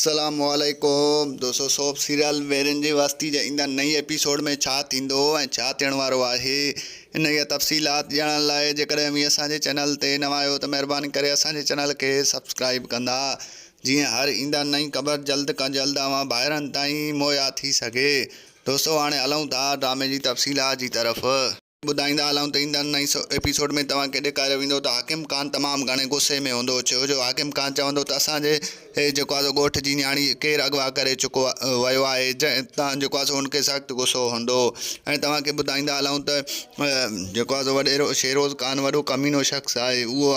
السلام عليڪم دوستو سوپ سيريل ويرين جي وستي جي ايندڙ نئين ايپيسوڊ ۾ ڇا ٿيندو ۽ ڇا ٿيڻ وارو آهي انهيء تفصيلات ڄاڻڻ لاء جيڪڏهن اوهين اسان جي چينل تي نوان آهيو ته مهرباني ڪري اسان جي چينل کي سبسڪرائيب ڪندا جيئن هر ايندڙ نئين خبر جلد کان جلد اوهان ڀائرن تائين مهيا ٿي سگهي دوستو هاڻي هلون ٿا ڊرامي جي تفصيلات جي طرف. ٻڌائيندا هلون ته ايندڙ نئين ايپيسوڊ ۾ توهان کي ڏيکاريو ويندو ته حاڪم خان تمام گهڻي غصي ۾ هوندو ڇو جو حاڪم خان چوندو ته اسان جي جيڪو آهي سو ڳوٺ جي نياڻي ڪير اغوا ڪري چڪو ويو آهي جنهن تان جيڪو آهي سو هن کي سخت غصو هوندو ۽ توهان کي ٻڌائيندا هلون ته جيڪو آهي سو وڏيرو شيروز خان وڏو ڪمينو شخص آهي اهو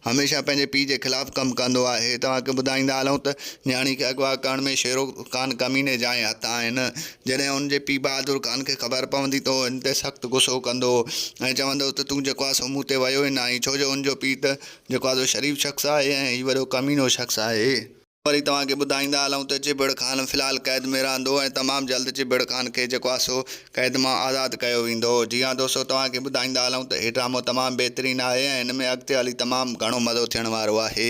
هميشه پنهنجي پيء جي خلاف ڪم ڪندو آهي. توهان کي ٻڌائيندا هلون ته نياڻي کي اغوا ڪرڻ ۾ شيرو خان ڪميني جا ئي هٿ آهن. جڏهن هن جي پيء بهادر خان کي خبر پوندي ته هو هن تي سخت غصو ڪندو هو ۽ چوندو هو ته تون جيڪو آهي سو مون تي ويو ئي ناهين ڇو جو هن جو پيء ته جيڪو آهي سو شريف شخص آهي ۽ هي وڏو ڪمينو شخص آهي. وري توهان کي ٻڌائيندا هلون ته چيڀڙ خان في الحال قيد ۾ رهندو ۽ تمام جلد چيڀڙ خان کي جيڪو آهي سو قيد مان آزاد ڪيو ويندو. جي ها دوستو توهان کي ٻڌائيندا هلون ته هي ڊرامو تمام بهترين آهي ۽ هن ۾ اڳتي هلي تمام گهڻو مزو ٿيڻ وارو آهي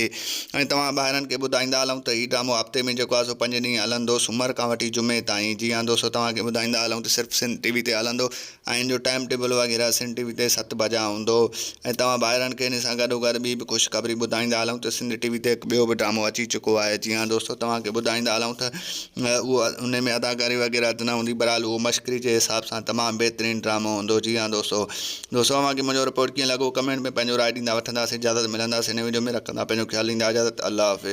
۽ توهان ڀائرن کي ٻڌائيندا هلون ته هي ڊرامو هفتي ۾ جيڪو آهي سو پنج ڏينهن هلندو سومر کان وٺي جمعي تائين جي ها دوستو توهان کي ٻڌائيندا هلون ته صرف سنڌ ٽي وي تي هلندو آئين جو ٽائيم ٽيبل وغيره سنڌ ٽي وي تي ست بجا هوندو هو ۽ توهان ڀائرن کي ان سان گڏو گڏ ٻي به خوشخبري ٻڌائيندا هلون ته سنڌ ٽي وي تي هڪ ٻيو به ڊرامو اچي چڪو آهي جي ها دوستو توهان کي ٻڌائيندا هلون ته اهو ان ۾ اداڪاري وغيره ته نه هوندي بهرحال اهو مشڪري جي حساب سان تمام بهترين ڊرامو هوندو جي ها دوستو دوستو اوهان کي منهنجو رپورٽ ڪيئن لڳو ڪمينٽ ۾ پنهنجو راء ڏيندا وٺنداسين اجازت ملنداسين نئين وڊيو ۾ رکندا پنهنجو خيال ڏيندا اجازت الله حافظ.